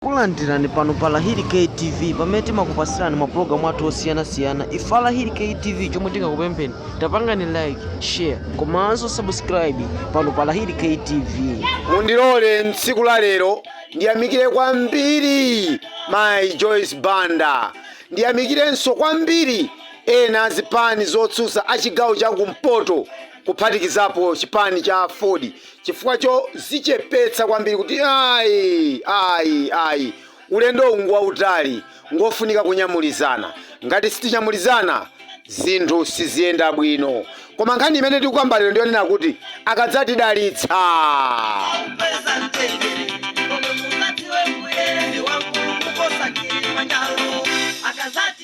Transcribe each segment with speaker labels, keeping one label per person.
Speaker 1: Takulandirani pano pa Lahiri K TV pamene timakupasirani mapulogalamu athu osiyanasiyana. Ife a Lahiri K TV chomwe tingakupempheni tapangani like, share komanso subscribe pano pa Lahiri K TV. mundilole
Speaker 2: mtsiku la lero ndiyamikire kwambiri mayi joyce banda ndiyamikirenso kwambiri ena a zipani zotsutsa a chigawo cha kumpoto kuphatikizapo chipani cha aford chifukwa chozichepetsa kwambiri kuti ayi ayi ayi ulendowu ngwautali ngofunika kunyamulizana ngati sitinyamulizana zinthu siziyenda bwino koma nkhani imene tikukamba lero ndiyonena kuti akadzatidalitsa Chauta atipatsa mtendere, kome muzati we mbuye, ndi wamkulu kuposa kilimanjaro akazati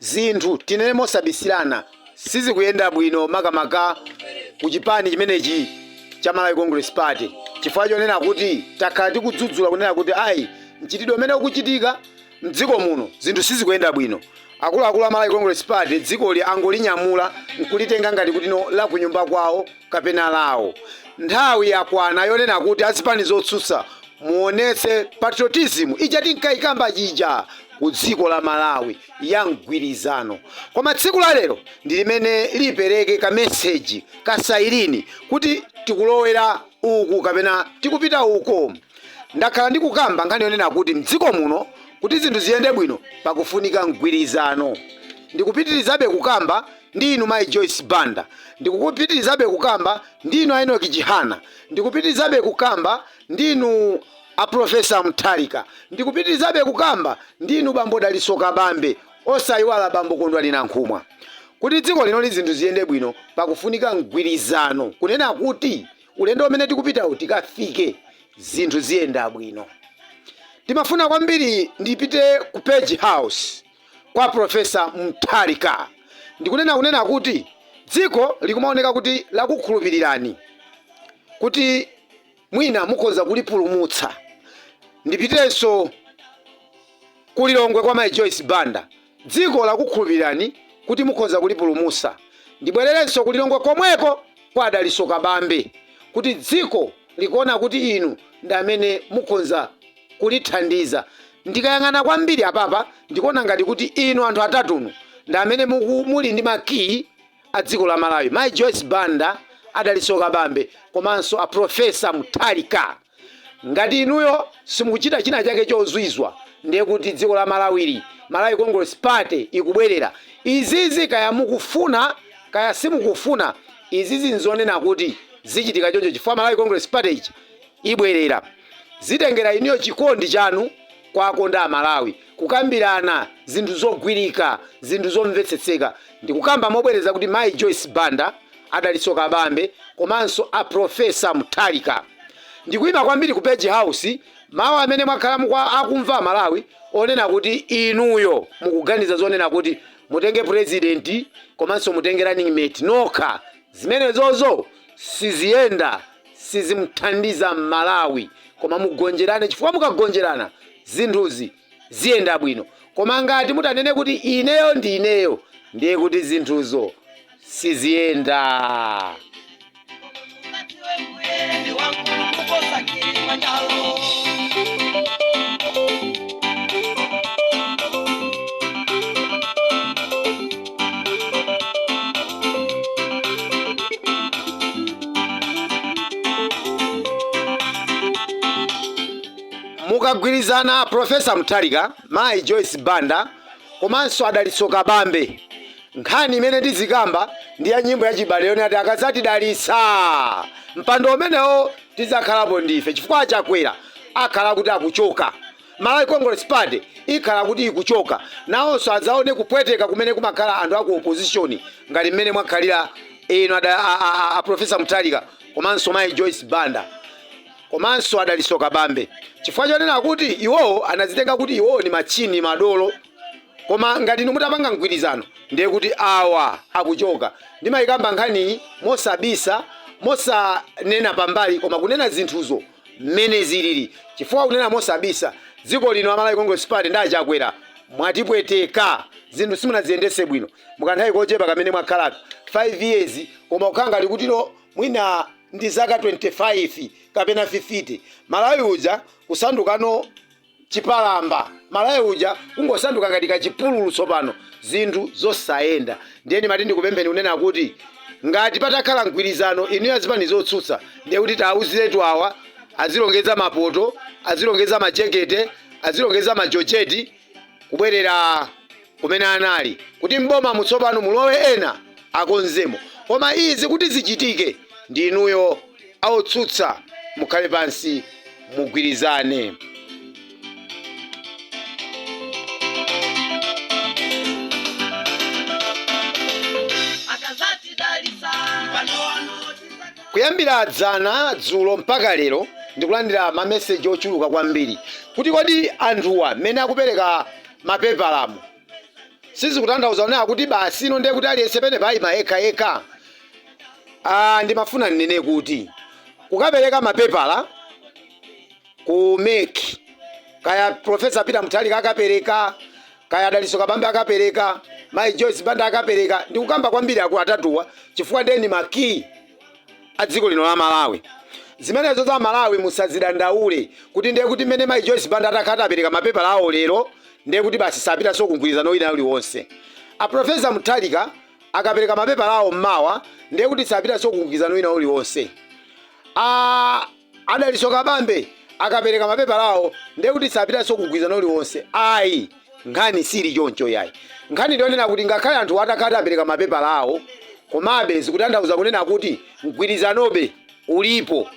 Speaker 2: Zinthu, tinene mosabisirana, sizikuyenda bwino makamaka ku chipani chimenechi cha Malawi Congress Party chifukwa chonena kuti takhala tikudzudzula kunena kuti ayi mchitidwe umene ukuchitika mdziko muno zinthu sizikuyenda bwino. Akuluakulu a Malawi Congress Party dzikoli angolinyamula nkulitenga ngati kuti ndi lakunyumba kwawo kapena lawo. Nthawi yakwana yonena kuti azipani zotsutsa muonetse patriotism ija tinkaikamba ija ku dziko la Malawi ya mgwirizano koma tsiku la lero ndi limene lipereke ka message ka sailini kuti tikulowera uku kapena tikupita uko ndakhala ndikukamba nkhani yonena kuti mdziko muno kuti zinthu ziyende bwino pakufunika mgwirizano ndikupitirizabe kukamba ndi inu mai Joyce Banda ndikupitirizabe kukamba ndi inu Enoch Chihana ndikupitirizabe kukamba ndi inu a professor mutharika ndikupitilizabe kukamba ndi inu bambo dalitso kabambe osaiwala bambo kondwani nankhumwa kuti dziko linoli zinthu ziyende bwino pakufunika mgwilizano kunena kuti ulendo umene tikupitawu tikafike zinthu ziyenda bwino ndimafuna kwambiri ndipite ku page house kwa professor mutharika ndikunena kunena kuti dziko likumaoneka kuti lakukhulupilirani kuti mwina mukhoza kulipulumutsa. Ndipitenso ku Lilongwe kwa Mayi Joyce Banda. Dziko lakukhulupirirani kuti mukhoza kulipulumutsa. Ndibwererenso ku Lilongwe komweko kwa a Dalitso Kabambe kuti dziko likuona kuti inu ndi amene mukhonza kulithandiza. Ndikayang'ana kwambiri apapa ndikuona ngati kuti inu anthu atatunu ndi amene muli ndi makiyi a dziko la Malawi mayi Joyce Banda a Dalitso Kabambe komanso a Prof Mutharika. Ngati inuyo simukuchita china chake chozwizwa ndiye kuti dziko la Malawili, Malawi Congress Party ikubwerera. Izizi kaya mukufuna kaya simukufuna izizi nzonena kuti zichitika choncho chifukwa Malawi Congress Party ibwerera. Zitengera inuyo chikondi chanu kwa akonda a Malawi. Kukambirana zinthu zogwirika, zinthu zomvetsetseka ndikukamba mobwereza kuti Mayi Joyce Banda, a Dalitso Kabambe komanso a Prof. Mutharika. Ndikuima kwambiri ku Page House mawu amene mwakhala akumva Amalawi onena kuti inuyo mukuganiza zonena kuti mutenge President komanso mutenge running mate nokha zimenezozo siziyenda. sizimuthandiza mmalawi koma mugonjerane chifukwa mukagonjerana zinthuzi ziyenda bwino koma ngati mutanene kuti ineyo ndi ineyo ndiye kuti zinthuzo siziyenda mukagwirizana profesa mutharika mayi joyce banda komanso a dalitso kabambe nkhani imene tizikamba ndi ya nyimbo ya chibale yone ati akadzatidalitsa mpando umenewo tidzakhalapo ndife chifukwa a chakwera akhala kuti akuchoka Malawi Congress Party ikhala kuti ikuchoka, nawonso adzaone kupweteka kumene kumakhala anthu a ku opposition ngati mmene mwakhalira inu a Professor Mutharika komanso mayi Joyce Banda komanso a Dalitso Kabambe chifukwa chonena kuti iwowo anadzitenga kuti iwowo ndi matchini, madolo koma ngati inu mutapanga mgwirizano ndiye kuti awa akuchoka. Ndimayikamba nkhaniyi mosabisa, mosanena pambali koma kunena zinthuzo. mmene zilili chifukwa kunena mosabisa dziko lino a Malawi Congress Party ndi a Chakwera mwatipweteka zinthu simunadziyendetse bwino mukanthawi kochepa kamene mwakhalaka 5 years koma kukhala ngati kutilo mwina ndi zaka 25 kapena 50 Malawi uja kusandukano chipalamba. Malawi uja kungosanduka ngati kachipululu tsopano, zinthu zosayenda. Ndiye ndimati ndikupempheni kunena kuti ngati patakhala mgwirizano inuyo azipani zotsutsa ndiye kuti tiwauziretu awa azilongedza mapoto, azilongedza majekete, azilongedza majojeti kubwerera kumene anali kuti m'bomamu tsopano mulowe ena akonzemo koma izi kuti zichitike ndi inuyo aotsutsa mukhale pansi mugwirizane. Kuyambira dzana, dzulo mpaka lero ndikulandira ma message ochuluka kwambiri kuti kodi anthuwa mmene akupereka mapepalamo sizikutanthauza kunena kuti basi ino ndiye kuti aliyense pene payima yekha yekha Ah, ndimafuna ndinene kuti kukapereka mapepala ku MEC kaya profesa Peter Mutharika akapereka kaya Dalitso Kabambe akapereka mayi Joyce Banda akapereka ndikukamba kwambiri akulu atatuwa chifukwa ndi eni makiyi adziko lino la Malawi. Zimenezozo aMalawi musazidandaule kuti ndiye kuti mmene mayi Joyce Banda atakhala kuti apereka mapepala awo lero ndiye kuti basi sapitanso ku mgwirizano wina uliwonse. A Professor Mutharika akapereka mapepala awo mmawa ndiye kuti sapitanso ku mgwirizano wina uliwonse. A Dalitso Kabambe akapereka mapepala awo ndiye kuti sapitanso ku mgwirizano uliwonse ayi. Nkhani siili choncho iyayi. Nkhani ndi yonena kuti ngakhale anthuwa atakhala kuti apereka mapepala awo, komabe zikutanthauza kunena kuti mgwirizanobe ulipo.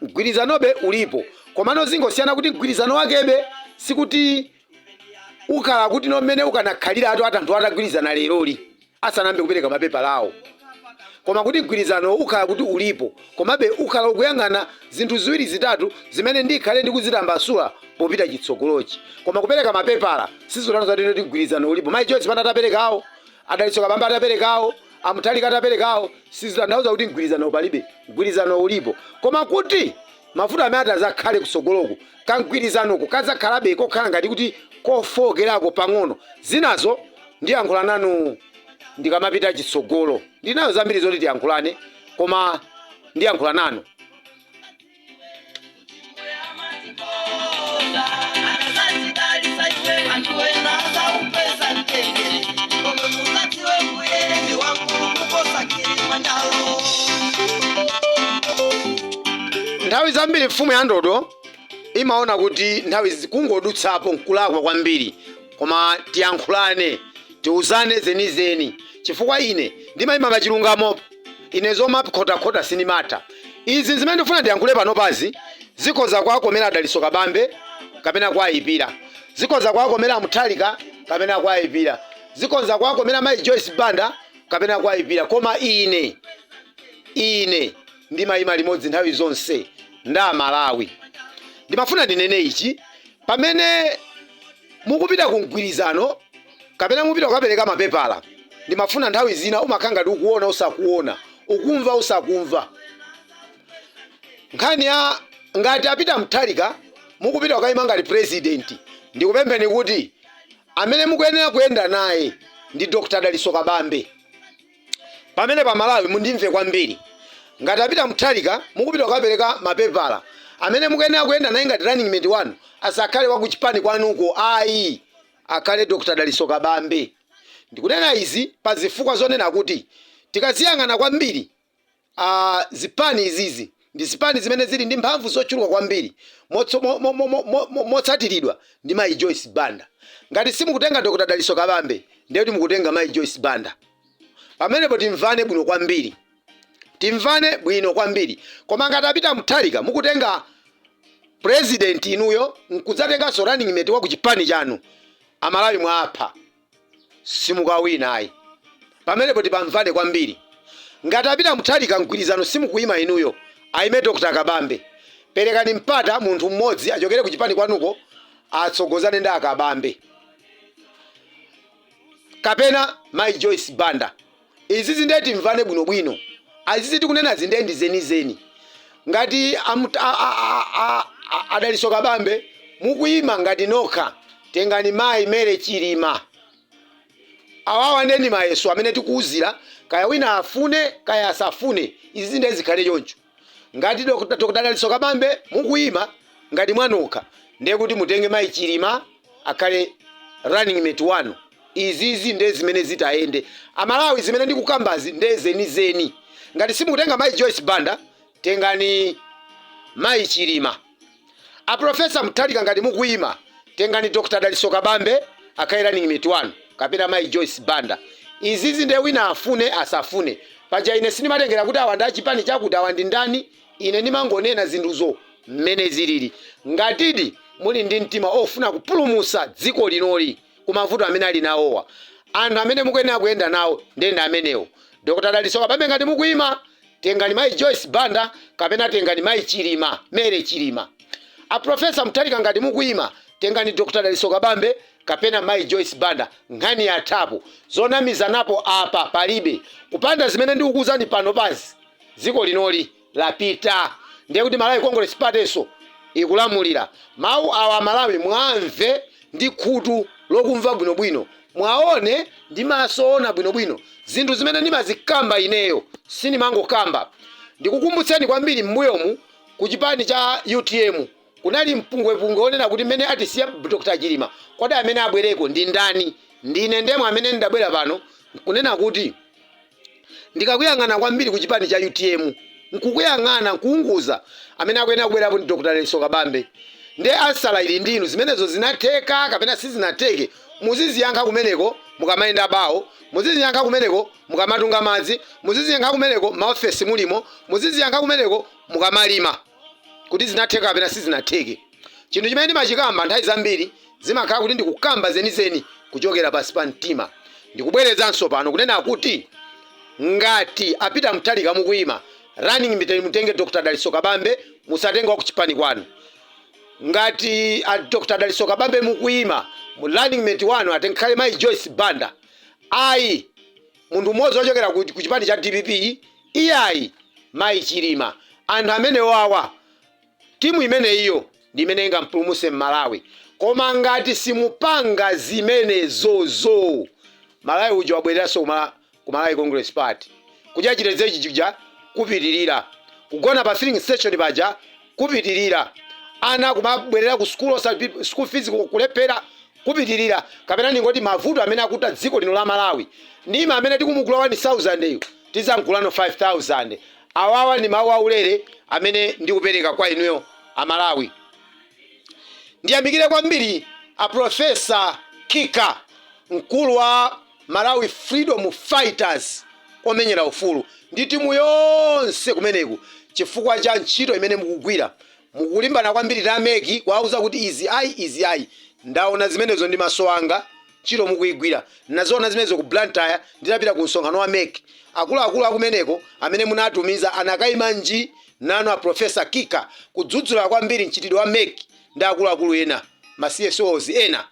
Speaker 2: Mgwirizanobe ulipo. Komano zingosiyana kuti mgwirizano wakebe sikuti ukhala kuti no mmene ukanakhalira atu- anthu atagwirizana leroli asanayambe kupereka mapepala awo koma kuti mgwirizano ukhala kuti ulipo komabe ukhala ukuyang'ana zinthu ziwiri zitatu zimene ndikhale ndikuzitambasula popita chitsogolochi koma kupereka mapepala sizikutanthauza kunena kuti mgwirizano ulipo mayi Joyce Banda ataperekawo a Dalitso Kabambe ataperekawo a Mutharika ataperekawo sizitanthauza kuti mgwirizano palibe mgwirizano ulipo koma kuti mavuto amene atadzakhale kutsogoloku kamgwirizanoko kadzakhalabe kokhala ngati kuti kofookerako pang'ono. Zinazo ndiyankhula nanu ndikamapita chitsogolo. Ndili nazo zambiri zoti tiyankhulane, koma ndiyankhula nanu. Nthawi zambiri mfumu ya ndodo imaona kuti nthawi zi- kungodutsapo nkulakwa kwambiri, koma tiyankhulane, tiuzane zenizeni, chifukwa ine ndimayima pa chilungamo, ine zomakhotakhota sindimatha. Izi zimene ndikufuna ndiyankhule panopazi zikhoza kuwakomera a Dalitso Kabambe kapena kuwayipira, zikhoza kuwakomera a Mutharika kapena kuwayipira, zikhoza kuwakomera mayi Joyce Banda kapena kuwayipira, koma ine, ine. ndimaima limodzi nthawi zonse ndi amalawi ndimafuna ndinene ichi pamene mukupita ku mgwirizano kapena mupita kukapereka mapepala ndimafuna nthawi zina umakhala ngati ukuona usakuona ukumva usakumva nkhani ya ngati a Peter Mutharika mukupita kukaima ngati president ndikupempheni kuti amene mukuyenera kuyenda naye ndi dr Dalitso Kabambe Pamenepo amalawi mundimve kwambiri. Ngati a Peter Mutharika mukupita kukapereka mapepala, amene mukuyenera kuyenda naye ngati running mate wanu asakhale wa kuchipani kwanuko ayi, akhale Dr Dalitso Kabambe. Ndikunena izi pazifukwa zonena kuti tikaziyang'ana kwambiri, a Zipani izizi ndi zipani zimene zili ndi mphamvu zochuluka kwambiri motso, mo, mo, mo, mo, mo, mo, motsatiridwa ndi Mayi Joyce Banda. Ngati simukutenga Dr. Dalitso Kabambe ndiye kuti mukutenga Mayi Joyce Banda. Pamenepo timvane bwino kwambiri. Timvane bwino kwambiri. Koma ngati a Peter Mutharika mukutenga president inuyo nkudzatenganso running mate wa ku chipani chanu. Amalawi mwaapha. simukawina ayi pamenepo tipamvane kwambiri ngati a Peter Mutharika mgwirizano simukuyima inuyo ayime Dr kabambe perekani mpata munthu mmodzi achokere kuchipani kwanuko atsogozane ndi akabambe kapena mayi Joyce Banda. Izizi nde timvane bwino bwino izizi tikunenazi nde ndi zenizeni ngati a a a a a a Dalitso Kabambe mukuima ngati nokha tengani mayi Mary Chilima awawa nde ndi mayeso amene tikuuzira kaya wina afune kaya asafune izizi nde zikhale choncho. Ngati Dr Dr Dalitso Kabambe mukuyima ngati mwanokha ndiye kuti mutenge mayi Chilima akhale running mate wanu izizi nde zimene zitayende amalawi zimene ndikukambazi nde zenizeni ngati simukutenga mayi Joyce Banda tengani mayi Chilima A Prof. Mutharika ngati mukuima, tengani Dr. Dalitso Kabambe akhale running mate wanu kapena mayi Joyce Banda. Izizi nde wina afune asafune. Paja ine sindimatengera kuti awa ndi a chipani chakuti awa ndi ndani, ine ndimangonena zinthuzo mmene zilili. Ngatidi muli ndi mtima ofuna kupulumutsa dziko linoli ku mavuto amene ali nawowa, anthu amene mukuyenera kuyenda nawo nde ndi amenewo. Dr. Dalitso Kabambe ngati mukuima, Tengani mayi Joyce Banda kapena tengani mayi Chilima, Mary Chilima. A Prof. Mutharika ngati mukuyima, tengani Dr. Dalitso Kabambe kapena mayi Joyce Banda. Nkhani yathapo. Zonamizanapo apa palibe. Kupanda zimene ndikukuwuzani panopazi, dziko linoli lapita. Ndiye kuti Malawi Congress Party-nso ikulamulira. Mawu awa aMalawi muamve ndi khutu lokumva bwinobwino, mwaone, ndi maso oona bwinobwino, zinthu zimene ndimazikamba ineyo, sindimangokamba. Ndikukumbutseni kwambiri m'mbuyomu ku chipani cha utm kunali mpungwepungwe onena kuti mmene atisiya Dr Chilima kodi amene abwereko ndi ndani? Ndine ndemwe amene ndabwera pano nkunena kuti. ndikakuyang'ana kwambiri ku chipani cha utm nkukuyang'ana nkuunguza amene akuyenera kubwerapo ndi Dr Dalitso Kabambe nde ansala ili ndi inu zimenezo zinatheka kapena sizinatheke muziziyankha kumeneko mukamayenda bawo muziziyankha kumeneko mukamatunga madzi muziziyankha kumeneko m'maofesi mulimo muziziyankha kumeneko mukamalima kuti zinatheka kapena sizinatheke. Chinthu chimene ndimachikamba nthawi zambiri zimakhala kuti ndikukamba zenizeni kuchokera pansi pa mtima. Ndikubwerezanso pano kunena kuti ngati a Peter Mutharika mukuima running mate mutenge Dr. Dalitso Kabambe musatenge wa kuchipani kwanu. Ngati a Dr. Dalitso Kabambe mukuima running mate wanu atenkhale Mayi Joyce Banda. Ayi munthu mmodzi wochokera ku chipani cha dpp iyayi Mayi Chilima. Anthu amenewawa Timu imeneyiyo ndi imene ingampulumutse Malawi koma ngati simupanga zimenezozo Malawi uja wabwereranso ku Malawi Congress Party. Kudya chitedze chija kupitirira, kugona pa filling station paja kupitirira, ana kumabwerera ku school school fees kulephera kupitirira kapena ndingoti mavuto amene akuta dziko lino la Malawi ndiwa amene tikumugula 1000 yu. Tidzamgulano 5000. Awawa ndi mawu aulere amene ndikupereka kwa inuyo a Malawi. Ndiyamikire kwambiri a Professor Kika, mkulu wa Malawi Freedom Fighters, omenyera ufulu, ndi timu yonse kumeneku chifukwa cha ntchito imene mukugwira. Mukulimbana kwambiri ndi a mec kuwauza kuti izi ayi izi ayi. Ndaona zimenezo ndi maso anga. Ntchito mukuigwira. Ndinaziona zimenezo ku Blantyre ndinapita ku msonkhano wa mec. Akuluakulu akumeneko amene munatumiza anakaima nji nanu a Professor Kika kudzudzula kwambiri mchitidwe wa mec ndi akuluakulu ena, ma CSOs ena.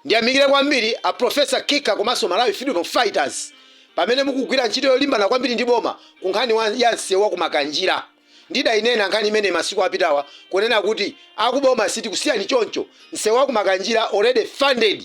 Speaker 2: Ndiyamikire kwambiri a Professor Kika komanso Malawi Freedom Fighters pamene mukugwira ntchito yolimbana kwambiri ndi boma ku nkhani ya msewu wa ku Makanjira. Ndidayinena nkhani imeneyi masiku apitawa kunena kuti akuboma sitikusiyani choncho nsewu wa ku Makanjira already funded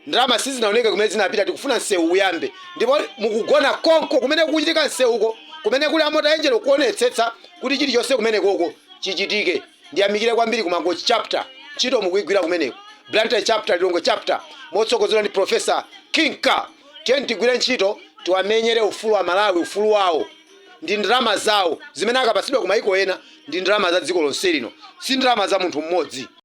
Speaker 2: ndalama sizinaoneke kumene zinapita tikufuna nsewu uyambe ndipo mukugona konko kumene kukuchitika nsewuko kumene kuli a Mota Engil kuonetsetsa kuti chilichonse kumenekoko chichitike ndiyamikire kwambiri ku Mangochi chapter ntchito mukuigwira kumeneko Blantyre chapter Lilongwe chapter motsogozedwa ndi Professor Kika tiyeni tigwire ntchito tiwamenyere ufulu amalawi ufulu wawo ndi ndalama zawo zimene akapatsidwa kumaiko ena ndi ndalama za dziko lonse lino si ndalama za munthu mmodzi.